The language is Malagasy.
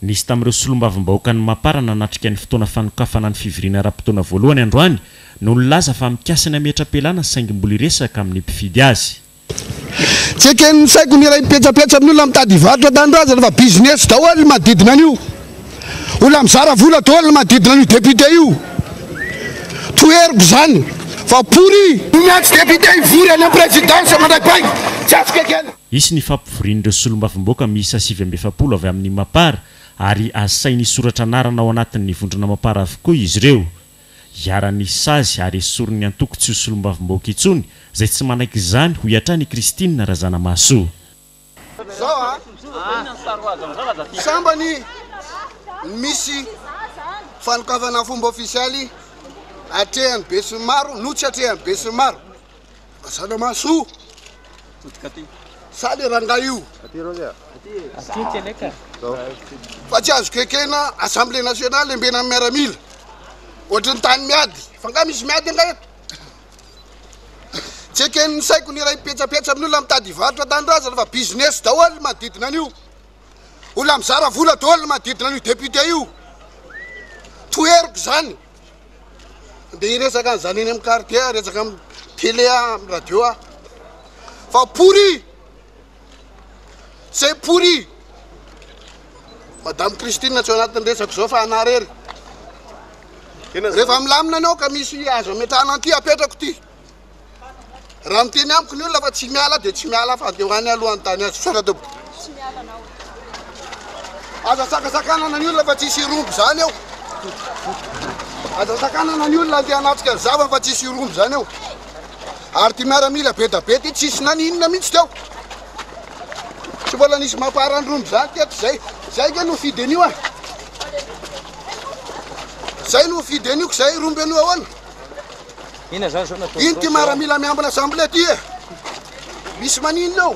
Nisy tamin'ireo solombavambahoakan'i Mapar nanatrika ny fotoana fanokafana ny fivoriana ara-potoana voalohany androany no nilaza fa mikasa ny hametra-pialana saingy mbola hiresaka amin'ny mpifidy azy. Tsy eken'ny saiko ny iray mipetsapetsa amin'ny olona mitady hivarotra tanindrazana fa business daholo ny manodidina an'io. Olona mizara vola daholo ny manodidina an'io député io. Toheriko izany fa pourri. Ny atsy député hivory any amin'ny présidence mandray bainga tsy azoko ekena. Hisy ny fampivorian'ireo solombavamboaka miisa sivy amby efapolo avy amin'ny Mapar ary asainy hisoratra anarana ao anatin'ny vondrona Mapar avokoa izy ireo. Iharan'ny sazy ary esorin'ny antoko tsy ho solombavamboaka intsony izay tsy manaiky izany, hoy hatrany i Christine Razanamahasoa. Sambany ny misy fanokafana fomba ofisialy atrehan'ny besinimaro no tsy atrehan'ny besinimaro. Mazana maso! Sa le rangahy io? Fa tsy azoko ekena assemblée nationale embena amin'ny miaramila. Ohatry ny tany miady. Fa nga misy miady anga eto? Tsy eken'ny saiko ny iray petsapetsa amin'ny olona mitady hivarotra tanindrazana fa business daholo ny manodidina an'io. Olona mizara vola daholo ny manodidina an'io député io. Toheriko izany. Ndeha hiresaka an'izany eny amin'ny carré dia resaka amin'ny télé aho, amin'ny radio aho. Fa pourri! C'est pourri! Madame Christine tsy ao anatin'ny resako izao fa anà rery. Rehefa milamina anao ka misy azo ametrahana an'ity apetrako ity. Raha miteny amiko ny olona fa tsy miala dia tsy miala fa dia ho any alohan'ny tany azy. Misaotra tompoko. Aza sakasakanana ny olona fa tsisy irombo izany eo. Aza sakanana ny olona andeha hanatrika ny zavany fa tsisy irombo izany eo. Ary ty miaramila be da be ty tsisy naninona mihitsy teo. Tsy mbola nisy mampaharandrombo izany teto izay. Izay nge no fide an'io an. Izay no fide an'io ka izay irombo an'io ahoana. Inona zany zao nataonao zao. Ino ty maramila miambina zambla ty e? Misy maninona ao?